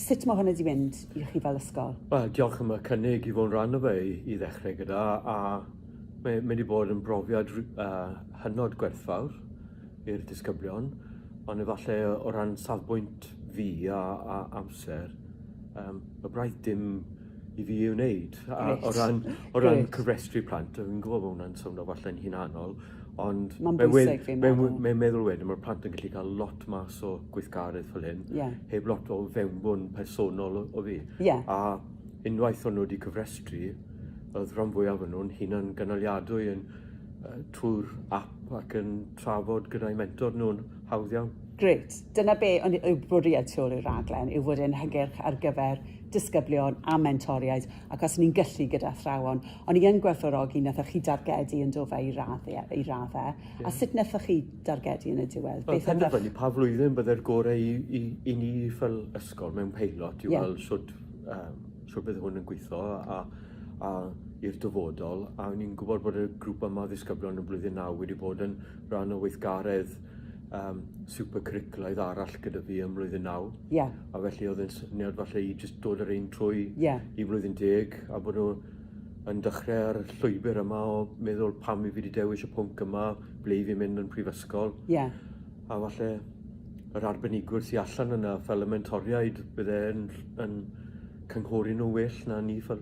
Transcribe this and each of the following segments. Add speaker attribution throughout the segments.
Speaker 1: Sut mae hwn wedi mynd i chi fel ysgol? Wel, diolch am y
Speaker 2: cynnig i fod yn rhan o fe i, i ddechrau gyda, a mae wedi bod yn brofiad uh, hynod gwerthfawr i'r disgyblion, ond efallai o ran safbwynt fi a, a amser, um, y braidd dim i fi ei wneud. A, o ran, o ran cyfrestru plant, fi'n gwybod bod hwnna'n swnio falle'n hunanol, Ond mae'n bwysig fi'n meddwl. Mae'n meddwl wedyn, mae'r plant yn gallu cael lot mas o gweithgaredd fel hyn, yeah. heb lot o fewnbwn personol o, o fi. Yeah. A unwaith o'n nhw wedi cyfrestru, oedd rhan fwyaf o'n nhw'n hunan gynaliadwy yn uh, trwy'r app ac yn trafod gyda'i mentor nhw'n hawdd iawn. Gret. Dyna be
Speaker 1: ond yw bwriad tu ôl i'r raglen, yw fod e'n hygyrch ar gyfer disgyblion a mentoriaid. ac os ni'n gallu gyda athrawon, o'n i yn gwerthfawrogi nathoch chi dargedu yn do fe i radde, i radde. Yeah. A sut nathoch chi dargedu yn y diwedd? Well, Beth ydych... pa flwyddyn
Speaker 2: bydde'r gorau i, i, i ni fel ysgol mewn peilot i yeah. weld sut, um, sut bydd hwn yn gweithio a, a i'r dyfodol a ni'n gwybod bod y grŵp yma ddisgyblion yn blwyddyn naw wedi bod yn rhan o weithgaredd um, super cwricwlaidd arall gyda fi ym mlwyddyn naw. Yeah. A felly oedd yn syniad falle i just dod yr ein trwy yeah. i flwyddyn deg a bod nhw yn dechrau ar y llwybr yma o meddwl pam i fi wedi dewis y pwnc yma, ble i fi mynd yn prifysgol. Yeah. A falle yr arbenigwr sy'n allan yna fel y mentoriaid, bydde yn, yn cynghori nhw well na ni fel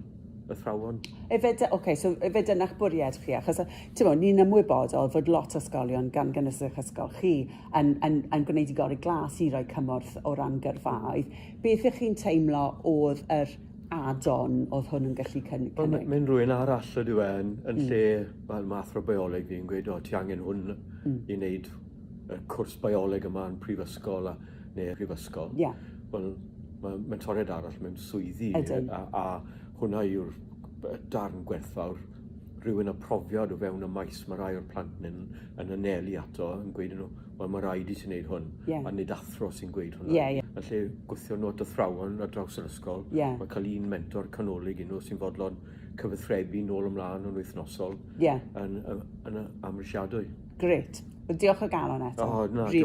Speaker 2: athrawon. Efe, de, okay, so efe dyna'ch
Speaker 1: bwriad chi, achos mo, ni'n ymwybodol fod lot o ysgolion gan gynnwys eich ysgol chi yn, yn, yn gwneud i gorau glas i roi cymorth o ran gyrfaoedd. Beth ych chi'n teimlo oedd yr add-on oedd hwn yn gallu cynnig? Well, Mae'n ma rhywun arall
Speaker 2: ydyw e yn, yn mm. lle, wel, mae athro bioleg fi'n gweud, o, ti angen hwn mm. i wneud y cwrs bioleg yma yn prifysgol a, neu y prifysgol, yeah. wel, mae mentoriad arall mewn swyddi Ydyn. a, a hwnna yw'r darn gwerthfawr rhywun â profiad o fewn y maes mae rai o'r plant yn, yn anelu ato yn gweud nhw, wel mae rhaid i ti wneud hwn, yeah. a nid athro sy'n gweud hwnna. Yeah, yeah. Yn lle gwythio nhw at athrawon ar draws yr ysgol, yeah. mae cael un mentor canolig i nhw sy'n fodlon cyfathrebu nôl ymlaen yn wythnosol yeah. yn, yn, yn
Speaker 1: amrisiadwy.
Speaker 2: Gret.
Speaker 1: Diolch o galon
Speaker 2: eto. Oh,
Speaker 1: na, really